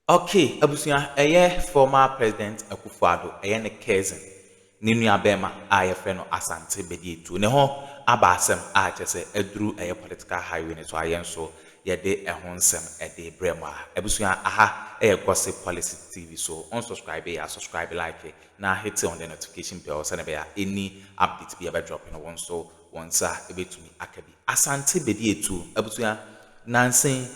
Ok abusua ɛyɛ former president Akuffo Addo ɛyɛ ne cousin ne nua bɛɛma a yɛfrɛ no Asante Bediatu ne ho aba asɛm a kyerɛ sɛ aduru ɛyɛ political highway no so a yɛn nso yɛde ɛho nsɛm ɛde brɛ mo a abusua aha ɛyɛ Gossip Policy TV so on subscribe ya subscribe like na hit on the notification bell sɛnɛ bɛya any update bi ɛbɛ drop no wo nso wo nsa ɛbɛtumi aka bi Asante Bediatu abusua nansa yi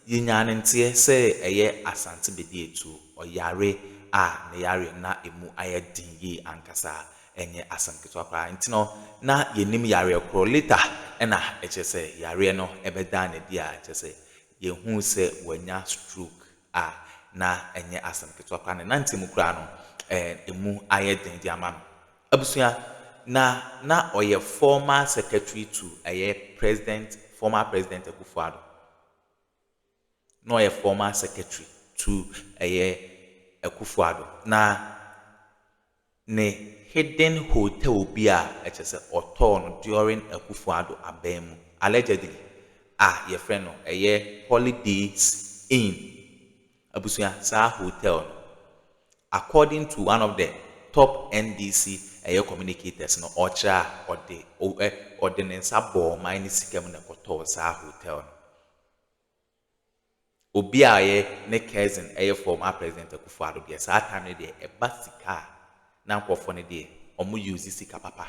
Yɛnyaa no nteɛ sɛ ɛyɛ Asante Bediatuo ɔyare a ne yareɛ no na ɛmu ayɛ den yie ankasa, ɛnyɛ asɛm ketewa koraa. Nti no na yɛnnim yareɛ korɔ. Later na ɛkyerɛ sɛ yareɛ no bɛdaa no adi a kyerɛ sɛ yɛhuu sɛ wanya stroke a na ɛnyɛ asɛm ketewa koraa. Ne nanteɛ mu koraa no ɛmu ayɛ den de ama no. Abusua, na na ɔyɛ former secretary to ɛyɛ President, former President Akufo-Addo. na ɔyɛ former secretary to ɛyɛ Akufo Addo. Na ne hidden hotel bi a ɛkyerɛ sɛ ɔtɔɔ no during Akufo Addo aban mu allegedly a yɛfrɛ no ɛyɛ Holidays Inn. Abusua, saa hotel no, according to one of the top NDC ɛyɛ communicators no, ɔkyerɛ a, ɔde o ɛ ɔde ne nsa bɔɔ ɔman no sika mu na ɛkɔtɔɔ saa hotel no. Obi a ɔyɛ ne cousin ɛyɛ former President Akufo Addo deɛ, saa time no deɛ, ɛba sika a, na nkorɔfoɔ no deɛ, wɔn use sika papa.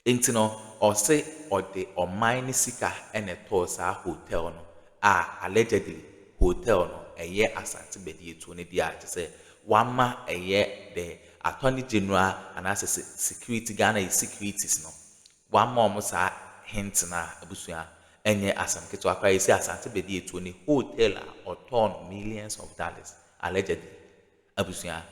Enti no, ɔse ɔde ɔman no sika na ɛtɔɔ saa hotel no a allegedly hotel no ɛyɛ Asante badiatuo no dea te sɛ wama ɛyɛ the Attorney General anaasɛ se security Ghana yi securities no wama ɔmo saa hint no a abusua ɛnyɛ asem ketewa koraa esi Asante badiatuo ne hotel a ɔtɔɔ no millions of dollars allegedly abusua.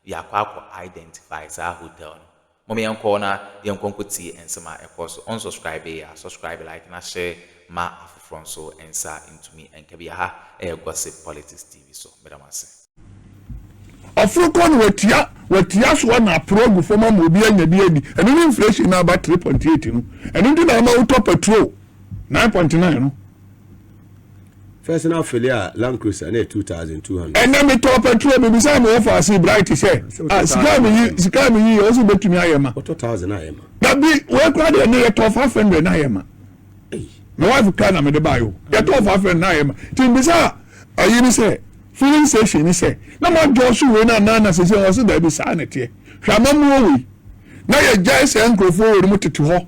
Yɛakɔ akɔ identify saa hotel no. Mom yɛnkɔ na yɛnkɔ nkɔ tie nsɛm a ɛkɔɔ so. Ɔnsɔscribee a, subscribe, like na share ma afoforɔ nso nsa ntumi nka bi. Aha ɛyɛ Gossip Politics TV so. Meda mo ase. Ɔforo kɔ na watua watua soɔ na aporo agu fam ama obi anya bi adi. Ɛno ne inflation no a aba three point eight no. Ɛno nti na ama wotɔ petrol nine point nine no. First na fili a Land Cruiser na yɛ two thousand two hundred. Ɛnna mi tɔ pɛtrol mi bisa mi wɔ faase Bright sɛ ah sika mi yi sika mi yi yɛ ɔsi betumi ayɛ ma. Ɔtɔ thousand ayɛ ma. Na bi wei kura deɛ ne yɛ tɔ five hundred ayɛ ma. My wife kura na mi de ba yi o yɛ tɔ five hundred ayɛ ma ti n bisa ayi ni sɛ filling station ni sɛ na ma jɔ so wei na nan na sese ɔsi dɛbi saa na teɛ hwɛ amamuo wei na yɛ gya sɛ nkurɔfoɔ wɔ ne mu tete hɔ.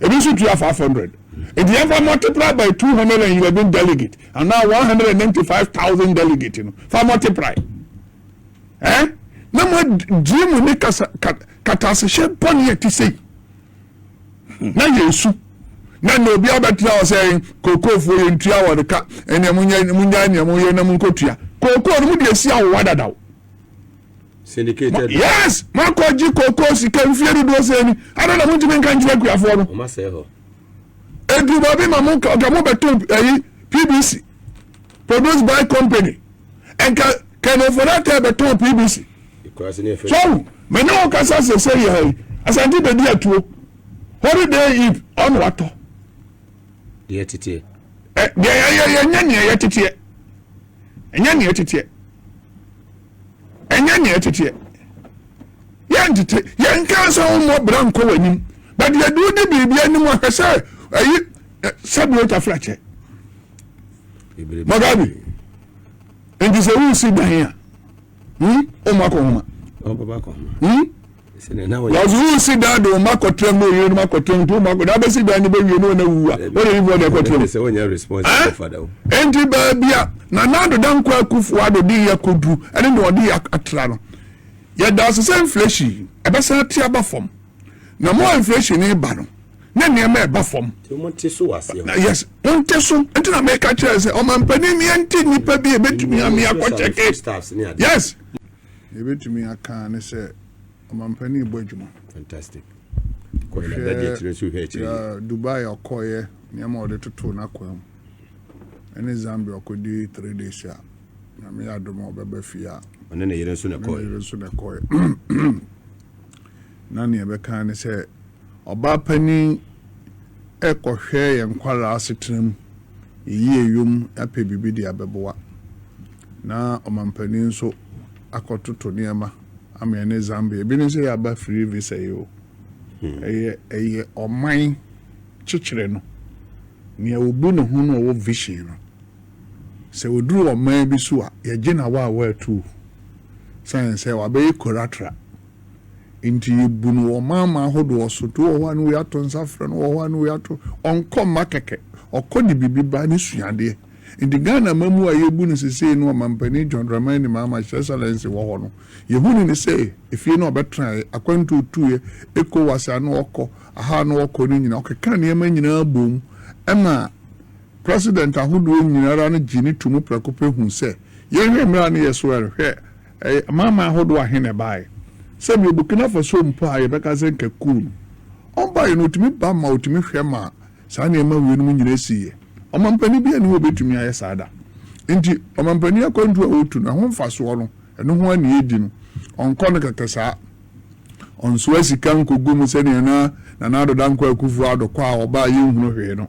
ebi nso tua five hundred nti yɛn fa multiply by two hundred and eleven delegate and now one hundred and ninety five thousand delegate no fa multiply ɛn eh? na mo gye mu ne kasa katasehyɛ bɔnne a ti sɛ na yɛ esu na na obi abɛtena hɔ sɛ kookoofo yɛ ntua wɔn ka ɛnna mo nya mo nya nea mo yɛ na mo nkotua kookoo no mo deɛ si awowa dadaw. Syndicated. Yes, makɔ gye koko sika mfie dodoɔ sɛ ni. Adɔ na montumi nka nkyerɛ akuafoɔ no. Ɔma sɛ hɔ. Edu baabi ma mo nka nka mo bɛto ɛyi PBC produced by company. Nka Colonel Fonate bɛtɔn PBC. So mɛ ne wɔn kasa sese yɛ ha yi. Asante bɛdi atuo. Holiday Eve ɔno watɔ. Deɛ teteɛ. Ɛ deɛ yɛ yɛ yɛ nyɛ neɛ yɛ teteɛ. Ɛnyɛ neɛ teteɛ. ɛnyɛ nea ɛteteɛ yɛntete yɛnka nsa ho mmɔ bra nkɔ w'anim but yɛde wodi biribi anim ahwɛ sɛ ayi sɛbi ɔtwa frakyɛ magabi nti sɛ wosi dan a wɔn akɔ homa wɔdze wo si dan do wɔn akɔtena mu na oyere no akɔtena mu nti wɔn akɔ na abɛsi dan no bɛwie na wɔn awuwu a wɔn ayi wɔn na ɛkɔtena mu ɛn nti baabi a na n'adoda nkɔ akufo ado de yɛ koduru ɛne na ɔde yɛ atra no yɛda ase sɛ inflation ɛbɛsan ate aba fam na mo a inflation ne ba no ne nneɛma ɛba fam yes monte so nti na meka kyerɛ sɛ ɔmampanin yɛnte nnipa bi a ɛbɛtumi ame akɔkyɛke yes Nea yɛbɛtumi aka ne sɛ ɔmampanin rebɔ adwuma. Fantastic. Kɔhwɛ Dubai a ɔkɔeɛ, nneɛma a ɔde totoo n'akwan mu, ɛne Zambia ɔkɔdi three days a, Nyame yɛ adom a ɔbɛba fie a. Ɔne ne yere nso na ɛkɔeɛ. Na nea ɛbɛka ara ne sɛ ɔbaa panin rekɔhwɛ yɛn nkwadaa asetena mu, yɛyi ayom apɛ biribi de abɛboa, na ɔmampanin nso akɔtoto nneɛma ama yɛn ne Zambia. Ebi ne sɛ yɛaba free visa yi o. Hmm. Ɛyɛ ɛyɛ ɔman kyekyere no. Nea obu ne ho na ɔwɔ vision no, Sɛ oduru ɔman bi so a, yɛgye no awaawa atuo sane sɛ wabɛyɛ koratra. Nti yɛbu no wɔ ɔmanman ahodoɔ so. Nti wowɔ hɔ a ne wei ato nsa frɛ no, wowɔ hɔ a ne wei ato. Ɔnkɔ mma kɛkɛ, ɔkɔ de biribi ba, ne suadeɛ. Nti Ghana amammuo a yɛbu no sesei no Ɔmampanin John Dramani Mahama, His Excellency, wɔ hɔ no, yɛhunu no sɛ efie no a ɔbɛtraeɛ, akwantuo a ɔtuiɛ, Ecowas a na ɔkɔ, aha a na ɔkɔ no nyinaa, ɔkeka nneɛma nyinaa boom ma President ahodoɔ nyinara no gye no to mu prɛko pɛ hu sɛ yɛnhwɛ mmerɛ a ne yɛ so ɛrehwɛ ɛyɛ amanaman ahodoɔ ahe na ɛbaeɛ. Sɛdeɛ Burkina Faso mpo a yɛbɛka sɛ nka kuu no ɔmbaeɛ no ɔtumi ba ma ɔtumi hwɛ ma saa nneɛma wei nom nyina siiɛ. Ɔmampanin biara nni hɔ a ɔbɛtumi ayɛ saa da. Nti ɔmampanin akwantuo a ɔtu no ɛho mfasoɔ no ɛno ho a na yɛdi no ɔnkɔ no kɛkɛ saa. Ɔnsoa sika nkɔgu mu sɛdeɛ na Nana Addo Dankwa Akufo Addo kɔ a ɔba a yɛnhunu hwee no.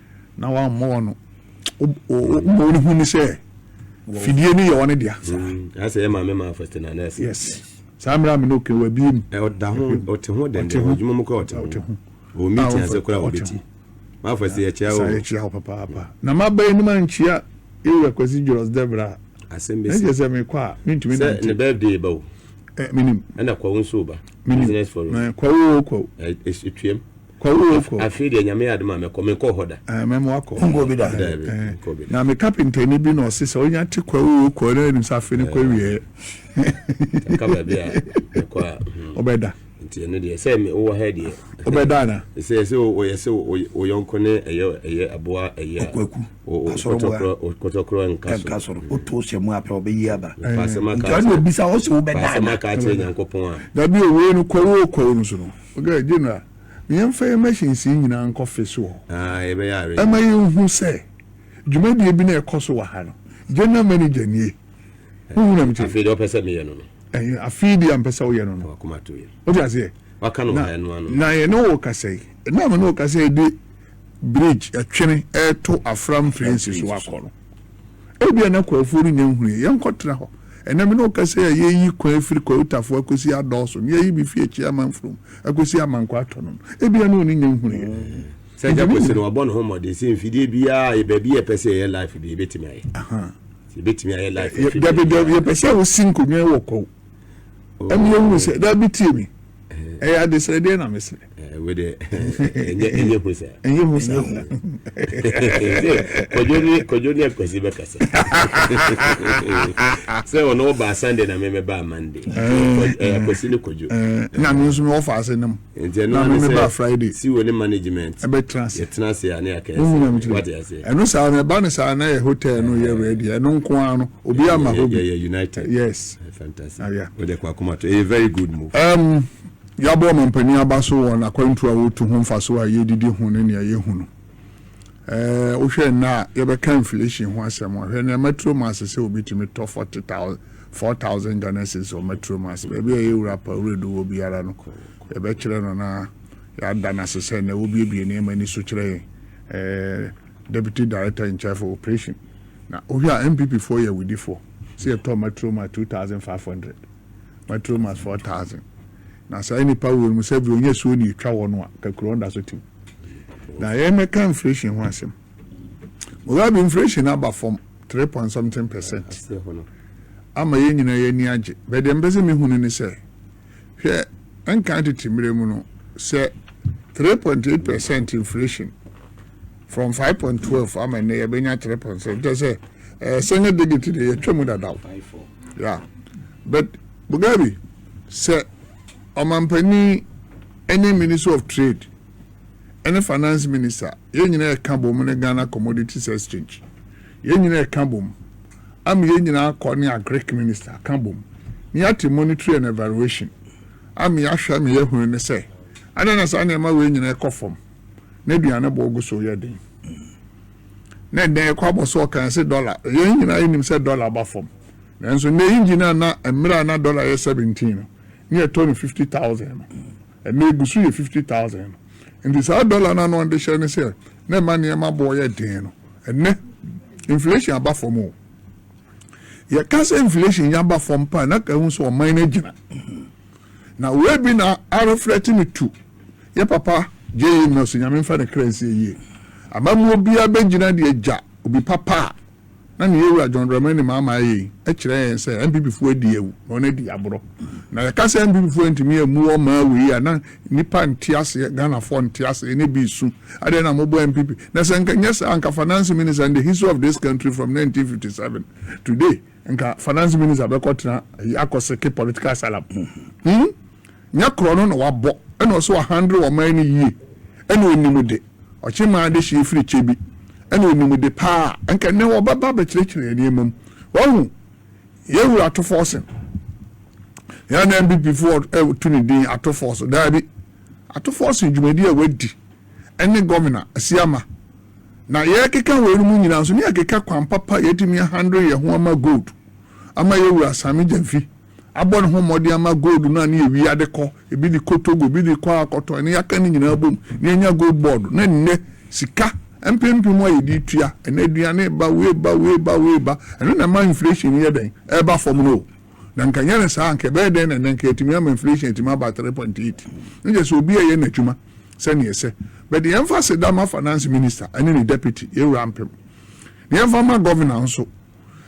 na wammɔ wɔn no mmɔ wɔn hu ne sɛ fidie no yɛ wɔn dea. asɛ ɛma me maa fɛtɛ na nɛɛsɛ. yes saa mmerɛ mi n'o kɛ wɔ abie mu. ɔda ho ɔte ho dɛndɛn wɔ adwuma mu kora ɔte ho wɔ mi ti ase kora wɔ bi ti maa fɛtɛ yɛ kyia o. yɛ kyia o papaapa na ma bɛyɛ ne ma n kyia ewu akwasi jɔlɔs dɛbra. asɛm bɛ si ɛsɛ sɛ mi kɔ a mi ntumi nante. sɛ ne bɛɛ de ba o. ɛ mi nim. ɛna kwawu nso ba. mi nim business for o. kwawu o kwawu. ɛ ɛ etuam. Kwawuof afei deɛ nyame yɛ adom a mɛkɔ menkɔɔ hɔ da. Ɛɛ mɛma wakɔ. Wonkɔɔ bi da? Daabi Ɛɛ menkɔɔ bi da. na me kapentani bi na ɔse sɛ onya te Kwawuo kɔ na anim sɛ afei ne kɔ awieɛ. Ɛka baabi a mekɔ a hmm. Ɔbɛda. Nti ɛno deɛ sɛ me wowɔ ha deɛ. Ɔbɛda ana? Ɛsɛ ɛsɛ ɔyɛ sɛ wo yɔnko ne ɛyɛ ɛyɛ aboa ɛyɛ a. Ɔkwaku. Asɔrɔboa. Kɔtɔkorɔ nka so. Ɛnka soro. Woto hyɛ mu apɛ ɔbɛyi aba. Paasɛm aka akyerɛ. Nti ɔne obisa ɔse wobɛda ana? Paasɛm aka akyerɛ Nyankopɔn a. Daabi o wei no Kwawuo kɔ no so no. Ɔkaa, General, ma yɛmfa yɛn machines yi nyinaa nkɔ fe so hɔ. Ɛma yɛhu sɛ dwumadie bi na ɛkɔ so wɔ ha no. General Manager nie. Wohu deɛ mete? Afei deɛ ɔpɛ sɛ meyɛ no no. Ɛhɛn, afei deɛ a mpɛ sɛ woyɛ no no. Wakoma to yɛ. Wote aseɛ? Waka no wɔ ha ɛno ano. Na yɛne wo rekasa yi, na me ne wo rekasa yi de bridge, ɛtwene, reto Afram Train si so akɔ no. Ebia na Kwaofoɔ renya nhunuiɛ. Yɛnkɔtra hɔ. Ɛnnɛ me ne wo kasa yi a, yɛreyi kwan afiri Kwautafoɔ akɔsi Adɔɔso, na yɛayi bi firi Akyiri Amanfurom akɔsi Amankwa atɔ no no. Ebia na ɔne nya nhunuiɛ. Sɛ Agya Kwesi no, ɔbɔ ne ho mmɔden sɛ mfidie biara, yɛ baabi yɛpɛ sɛ yɛyɛ life bi, yɛbɛtumi ayɛ. Yɛbɛtumi ayɛ life afiri baabiara. Dabi, dabi, yɛpɛ sɛ wosi nkonnwa wɔ Kwao. ɛmi ewu sɛ dabi tie mi ɛyɛ adesrɛ deɛ na mesrɛ ɛnyɛ hu saa ɛnyɛ hu saa kɔdwo ne akwasi bɛkasa sɛ ɔno wɔbaa sunday na memɛbaa monday akwasi ne kɔdwo na me nso mewɔ faase no mu Nti ɛno ara ne sɛ si wɔ ne management yɛtena ase a ne yɛaka ɛsɛ wate ase ɛno saa no ɛba no saa na yɛ hotel no yɛ ready ɛno nko ara no obi ama hɔ bi yɛyɛ united yes eh, fantastic ah, wode kɔ akoma to ɛyɛ very good move um, yɛabɔ ɔmampanin aba so wɔ n'akwantu a wɔtu ho mfaso a yɛdidi ho ne nea yɛhu no Ɛɛ, wohwɛ nnɛ a, yɛbɛka inflation ho asɛm a, hwɛ nea metro mass sɛ obi tumi tɔ forty thousand, four thousand Ghana cedis wɔ metro mass. Baabi a yɛwura pa wuredu wɔ biara no, yɛbɛkyerɛ no na yɛada no ase sɛ na wobiebie nneɛma ani so kyerɛ yɛn. Ɛɛ. deputy director in charge for operation na wohwɛ a npp foɔ yɛ awidifoɔ sɛ yɛtɔ matroma 2500 matromas 4000 Na saa nnipa wei nom sɛ bi ɔnya suo ne ɛtwa hɔ no a kakurɔn da so tim. Na yɛn mɛka inflation ho asɛm. Mugabe inflation aba fam 3 point something percent. Ama yɛn nyinaa yɛn ani agye. Bɛ deɛ mpɛ sɛ mehu no ne sɛ hwɛ nkan tete mmerɛ mu no sɛ 3.8 percent inflation from 5.12 ama nnɛ yɛbɛnya 3 point sɛ nkyɛ sɛ ɛɛ sɛnyɛ digit deɛ yɛtwa mu dadaw. Yeah. But Mugabe Sɛ Ɔmanpanin ne Ministry of Trade ne Finance Minister, yɛn nyinaa ɛka bom ne Ghana Commodities Exchange, yɛn nyinaa ɛka bom ama yɛn nyinaa akɔ ne Agric Minister aka bom na yɛate monitoring and evaluation ama yɛahwɛ ama yɛahunu ne sɛ adɛn na saa nneɛma wei nyinaa ɛkɔ fam na aduane boɔ gu so yɛ den. na nnɛ yɛkɔ abɔ so ɔkan se dɔla. Yɛn nyinaa yɛnim sɛ dɔla aba fam. Nanso nnɛ engine a na mmerɛ a na dɔla yɛ seventeen no, ne yɛtɔ no fifty thousand no, ɛnnɛ egu so yɛ fifty thousand no. Enti saa dɔla no a na wɔde hyɛ no sɛ na ɛma nneɛma boɔ yɛ den no, ɛnnɛ inflation aba fam o. Yɛka sɛ inflation aba fam paa na ka ehu sɛ ɔman no agyina. Na wei bi na a reflect me to yɛ papa JA Nelson Nyame nfa ne kra nsie yie. Amammuo biara bɛgyina deɛ Gya obi papa a na ne yɛwura John Dramani Mahama ayɛ yi kyerɛ yɛn sɛ NPP foɔ adi awu na wɔn adi aborɔ. Na yɛka sɛ NPP foɔ antumi ammu wɔn maa awu yi a na nnipa nte aseɛ, Ghanafoɔ nte aseɛ ne bi resu adɛn na mobɔ NPP. Na sɛ nka nyɛ saa a nka Fananse Minister and the history of this country from 1957 to today. Nka finance minister bɛkɔ tena ayi akɔseke political asylum hmm nyɛ korɔ no na wabɔ ɛna ɔsɛ wɔ handle ɔman no yie ɛna onim de ɔkye maa de hyɛ firi kyɛ bi ɛna onim de paa nka nnɛ wɔbɛba bɛkyerɛkyerɛ nneɛma mu wahu yɛ wura ato fɔɔsen yɛ na mpp foɔ ɛtu ne din ato fɔɔso daabi ato fɔɔsen dwumadi a wadi ne Gɔvena Asiamah. Na yɛrekeka weinom nyinaa nso, ne yɛkeka kwan papa a yɛatumi ahandle yɛn ho ama gold, ama yɛn wura Sammy Gyamfi abɔ ne ho mmɔden ama gold no a ne yɛwia ade kɔ, ebi de kɔ Togo, ebi de kɔ akɔtɔn, ne yɛaka ne nyinaa bom na yɛanya gold board, na nnɛ sika mpempem a yɛde retua, ɛnɛ aduane reba, wei reba, wei reba, wei reba, ɛno na ɛma inflation no yɛ dɛn? Ɛreba fam no o. Na nka nyɛ no saa a, nka ɛbɛyɛ dɛn na nnɛ nka yɛatumi ama inflation atumi aba 3.8. Na kyerɛ sɛ obi reyɛ n'adwuma sɛnea ɛsɛ. But yɛmfa aseda ma finance minister ne ne deputy, yɛn wura mpem. Na yɛmfa ma governor nso.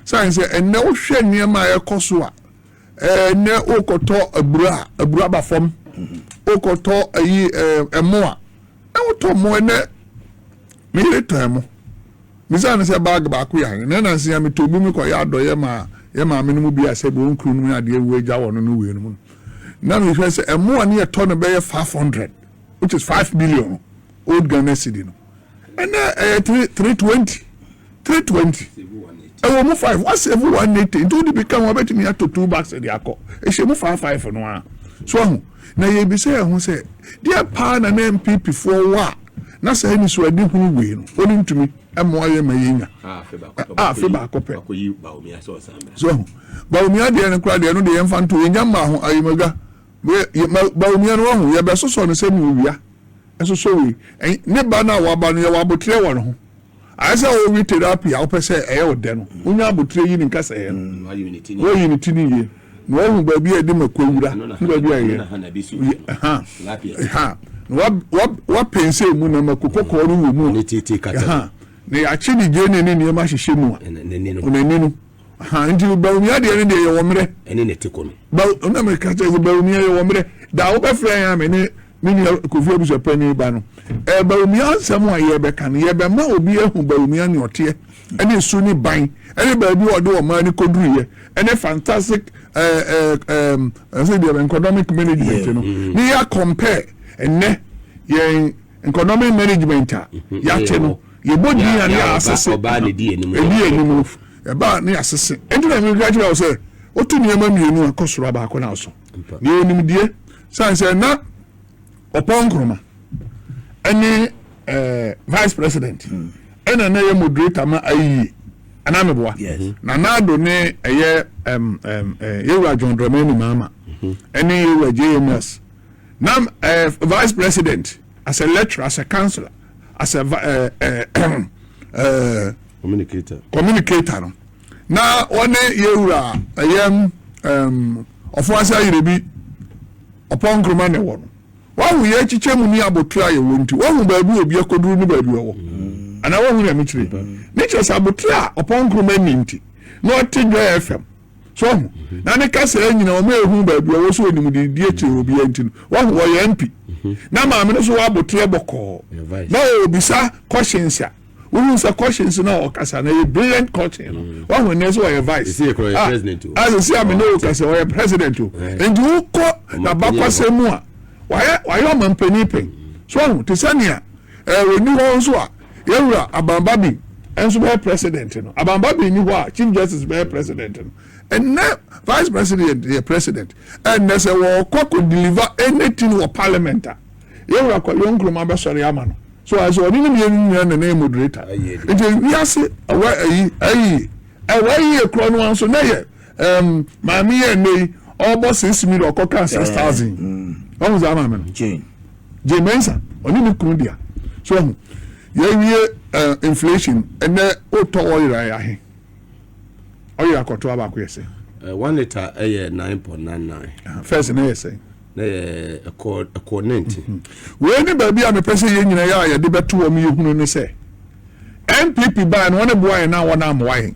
Sane sɛ ɛnnɛ wohwɛ nneɛma a ɛkɔ so a, ɛnnɛ wokɔtɔ abura a, abura ba fam. Wokɔtɔ ayi ɛmo a, na wotɔ mo ɛnɛ me yere tɔn mo misa no sɛ bag baako yɛ na ɛna nsia metɔ bi mekɔ yɛ adɔyɛ ma yɛ maame no mu bi a sɛ bi wɔn kunu no mu yɛ adeɛ wei gya wɔ no no wei no mu no na mehwɛ sɛ ɛmo a ne yɛtɔ no bɛyɛ five hundred which is five million old Ghana cedi no ɛnɛ ɛyɛ three three twenty. three twenty ɛwɔ mu five wa save one eighty nti wode bi ka ho abɛtumi ato two bags de akɔ ɛhyɛ mu five five no a so ahu na yɛbisa yɛn ho sɛ deɛ paa na na npp foɔ wɔ a na saa anisoade hunu wei no wɔne ntumi mmoa yɛ ma yɛnya a afe baako pɛ so ahu baomia deɛ no koraa deɛ no deɛ yɛmfa nto yɛnya mmaa ho ayɛmadwa baomia no wahu yɛbɛsosɔ no sɛdeɛ owia ɛsosɔ wei ne ba no a waba no yɛwɔ aboterɛ wɔ no ho Ayɛ sɛ wo we therapy a wopɛ sɛ ɛyɛ wo dɛ no, wonya abotire yi ne nkasɛɛ no, mm, woyi ne ti ne yie, na woahu baabi a ɛde mako wura ne baabi a ɛyɛ ha, ha, na woapɛnsɛ mu na mako kɔkɔɔ no wɔ mu a, ha, na yɛakye ne gyene ne nneɛma ahyehyɛ mu a, ɔnani no, ha nti no bawumia deɛ ne deɛ yɛwɔ mmerɛ ɛne ne teko no ba na meka kyerɛ sɛ bawumia yɛwɔ mmerɛ da wobɛfrɛ yɛn a me ne me nua kofi abusua panyin ba no ɛɛ bawumia nsɛm a yɛbɛka no yɛbɛma obi ahu bawumia ne ɔteɛ ɛne su ne ban ɛne baabi a ɔde ɔmaa ne kɔduruyɛ ɛne fantastic ɛɛ ɛɛ ɛɛ ɛsɛ deɛ economic management no mm-hmm. ne yɛ compare ɛnɛ yɛn economic management a mhm. yɛate no yɛbɔ din a ne yɛasese ɛdi anim no ɛbaa ne yɛasese ɛnti na meka kyerɛ wo sɛ woto nneɛma mmienu a kɔ soro a baako na aso deɛ ɔnimdeɛ sane sɛ na ɔpɔn nkroma ɛne eh, vice president hmm. ɛna na ɛyɛ moderator ma ayie anaa meboa na naado ne ɛyɛ eh, yɛwura john dramani maama mhm. ɛne yɛwura jms na eh, vice president as a lecturer as a counselor as a eh, eh, eh, communicator communicator no na ɔne yɛwura ɛyɛm um, ɔfoase ayere bi ɔpɔn nkuruma na ɛwɔ no wahu yɛ akyikyɛ mu ne abotire a yɛwɔ nti wahu baabi obi akɔduru ne baabi ɔwɔ mm. anaa wahu nyame kyerɛ ne kyerɛ sɛ abotire a ɔpɔn nkuruma ni nti na ɔte dwa fm so ɔho mhm. na ne kasaa nyina ɔma ɛhu baabi ɔwɔ so ɔnim de die kyerɛ obiara nti no wahu ɔyɛ mpi mhm. na maame no so waboteɛ bɔkɔɔ na ɔbisa questions a wohu sɛ questions no a ɔkasa no yɛ brilliant question no mhm. wahu ɛnɛ sɛ ɔyɛ vice asɛsi ah, ah, a me ne woka sɛ ɔyɛ president o nti wokɔ nabakwasɛ mu a wayɛ ɔmampanin pɛn so ɔho te sɛ nea ɔni eh, hɔ nso a Yɛn wura Aban Babi nso bɛyɛ president no. Aban Babi nni hɔ a Chief Justice bɛyɛ president no. Nnɛ Vice President yɛ president. Ɛnnɛ sɛ wɔkɔ akɔ deliver anything wɔ parliament a, yɛn wura Kwabena Nkrumah bɛsɔre ama no. So ayɛ sɛ ɔne ne mmienu no nyinaa na na yɛ moderator. Nti wiase ɛwɔ ayi, ayi, ɛwɔ ayi yɛ korɔ no ara nso na yɛ Um, maame yɛ nnɛ yi ɔbɔ six million ɔkɔ kaa six thousand ɔhu mm. saa maame no jane jane mensa ɔne ne kunu dea so ɔhu yɛwie eh, inflation ɛnɛ wotɔ ɔyera yɛ ahe ɔyera kɔtoa baako yɛ sɛ eh, one liter ɛyɛ nine point nine nine ah, first na yɛ sɛ na yɛ ɛkɔ ɛkɔ ninety mhm. wei ne baabi a mepɛ sɛ yɛn nyinaa yɛ a yɛde bɛto wɔn yɛ hunu ne sɛ npp baa no wɔn ne boa yɛn na wɔn amoa yɛn.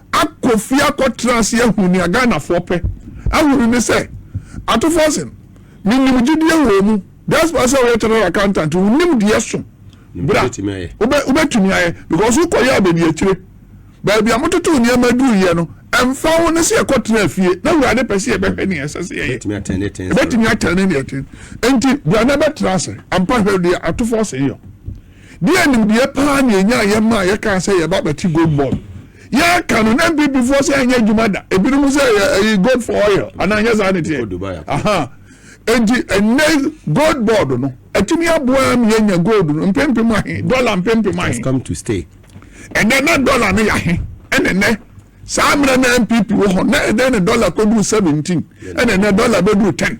akɔ fie akɔtena ase ahu nea Ghanafoɔ pɛ. Ahunu ne sɛ, atofoɔ se, menim gyedie wɔ mu. Diaspora sɛ woyɛ Chartered Accountant, wo nimdeɛ so bra, wobɛtumi ayɛ because wokɔyɛɛ baabi akyire. Baabi a mototoo nneɛma duruiɛ no, ɛmfa ho ne sɛ yɛkɔtenaa fie, na Awurade pɛ sɛ yɛbɛhwɛ nea ɛsɛ sɛ yɛyɛ. Ɛbɛtumi atɛne deɛ ɛtene. Enti bra na bɛtena ase. Ampa hwɛ deɛ atofoɔ se yɔ. Deɛ nimdeɛ paa na yɛnyaa yɛ maa yɛkaa sɛ yɛba bɛte gold board. Yɛreka no na NPP foɔ sɛ ɛnyɛ adwuma da. Ebinom sɛ ɛyi gold for oil anaa nyɛ saa ne teɛ. Aha. Enti ɛnɛ gold board no atumi aboa ama yɛanya gold no mpempem ahe, dollar mpempem ahe. Ɛnɛ na dollar no yɛ ahe ɛna ɛnɛ saa mmerɛ na npp wɔ hɔ na ɛdɛn na dɔla kɔduru seventeen ɛna ɛnɛ dɔla bɛduru ten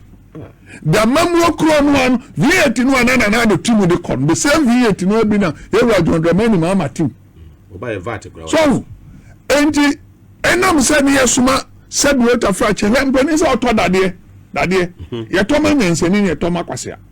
damamuo korɔ no ano vat no a na nana ado ti mu de kɔ no the same vat no abi na yɛwura john dramani ma ama ti mu so enti ɛnam sɛ ne yɛsoma sɛdeɛ ɔtafra kyɛ hwɛ mpanin sɛ ɔtɔ dadeɛ dadeɛ yɛtɔ ma nyansani ne yɛtɔ ma kwasea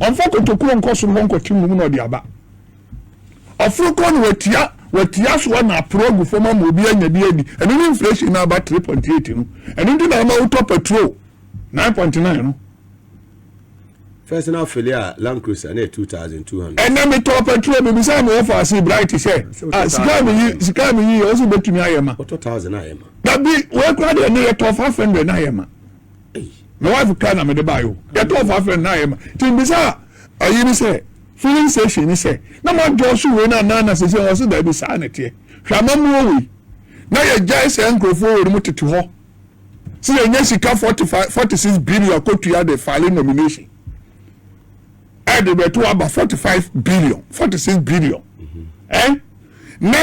Ɔmfa kotokuro nkɔ soro hɔ nkɔte mmom na ɔde aba. Ɔforo kɔ no watia watia soɔ na aporo agu fam ama obi anya bi adi. Ɛno ne inflation na aba 3.8 no. Ɛno nti na ama wotɔ petrol 9.9 no. First na afele a Land Cruiser na 2200. Ɛnɛ metɔ petrol me bisa me wɔfa ase bright sɛ ah sika me yi sika me yi ɔso betumi ayɛ ma. Ɔtɔ 1000 ayɛ ma. Dabi wekura de ne yɛ tɔ 500 na ayɛ ma. me wife kra na mede baa yo yɛtɔɔ fa afei na yɛ ma ti mbisa ayi ne sɛ filling station ne sɛ na ma dɔɔ so wei na nan na sese wɔn se daabi saa na ɛteɛ hwɛ amamuo wei na yɛ gyae sɛ nkurɔfoɔ wɔ mu tete hɔ sɛ yɛ nya sika forty five forty six billion akotua de file nomination ɛde bɛto aba forty five billion forty six billion ɛn mhm. eh? na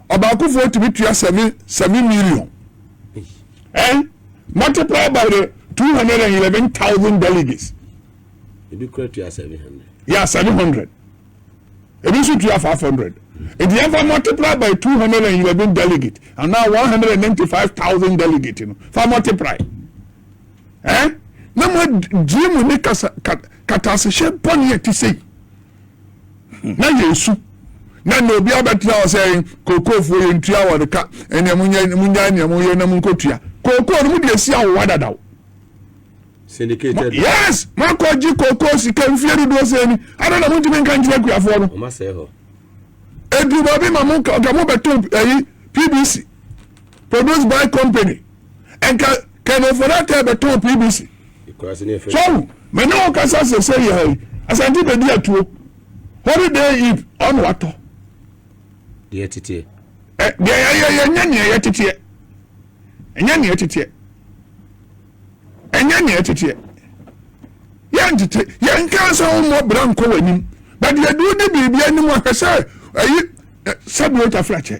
ɔbaakofoɔ tumi tua seven seven million. Eh? Multiply by the 211,000 delegates. Ebi kura tua 700. Yeah, 700. Ebi nso tua 500. Nti yɛn fa multiply by 211 delegate and now 195,000 delegate no fa multiply. Eh? Na mo gye mu ne kasa katasehyɛ bɔne a ɛte sɛ yi. na yɛsu na nea obi abɛtena hɔ sɛ kookoofo yɛ ntua wɔn ka ɛnea mo nyɛ mo nya nea mo yɛ na mo nkotua kookoo no mo de esi awowa dadaw. syndicated yes mo akɔ gye kookoo sika mfie dodoɔ sɛ ni adan na mo ntumi nka nkyerɛ akuafoɔ no. ɔma sɛ hɔ. edu baabi ma mo nka mo bɛto ɛyi pbc produced by company. nka kɛnɛ fɔlɛtɛ bɛ tɔn pvc sɔw mɛ ne o kasa sese yɛ yi asanti bɛ di atuo holiday eve ɔno atɔ. deɛ teteɛ. ɛ deɛ yɛyɛ yɛ nyɛ neɛ yɛ teteɛ ɛnyɛ neɛ teteɛ ɛnyɛ neɛ teteɛ yɛn tete yɛn nkan sɛ wɔn mɔ bra nkɔ wɔn anim bɛdeɛ deɛ odi biribi anim ahwɛ sɛ ɛyi sɛbi o ta fira kyɛ.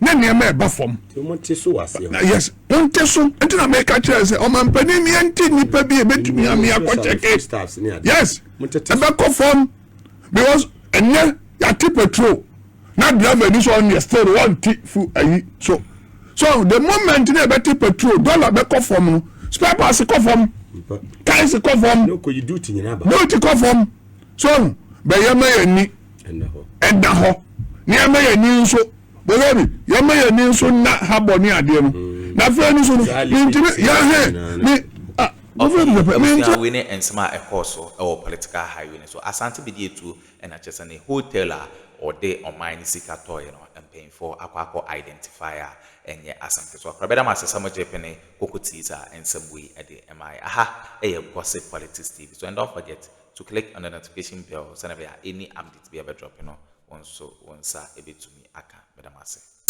na nneɛma ɛba fam. Monte so wɔ aseɛ hɔ. Yes, monte so. Nti na meka kyerɛ sɛ ɔmampanin mi ɛnti nipa bi ebetumi ami akɔkyɛke. Yes, ɛbɛkɔ fam because ɛnɛ yate petrol na driver ni so ɔno yɛ still wɔnte fu ayi so. So the moment na ɛbɛte petrol dollar bɛkɔ fam no spare parts kɔ fam, tires kɔ fam, duty kɔ fam. so bɛ yɛma yɛn ani ɛda hɔ na yɛma yɛn ani nso bɔsɛ bi yɛma yɛn ani nso nna ha bɔ ne adeɛ no mm. na afei no so no mentumi yɛhɛ me ɔfɛwei ne nsɛm a ɛkɔɔ so wɔ political highway no so asante bɛdi atuo ɛna kyɛ sɛ ne hotel a ɔde ɔman no sika tɔɔeɛ no mpanyinfoɔ akɔ akɔ identify a ɛnyɛ asɛm ketewa kora bɛda m ase sɛ mogye pene koko tii saa nsɛm wei de ɛmaeɛ aha ɛyɛ gossip politics tv so and don't forget To click on the notification bell sɛnea ɛbɛyɛ a any update biara a ɛbɛ drop no wo nso wo nsa bɛtumi aka. Meda mo ase.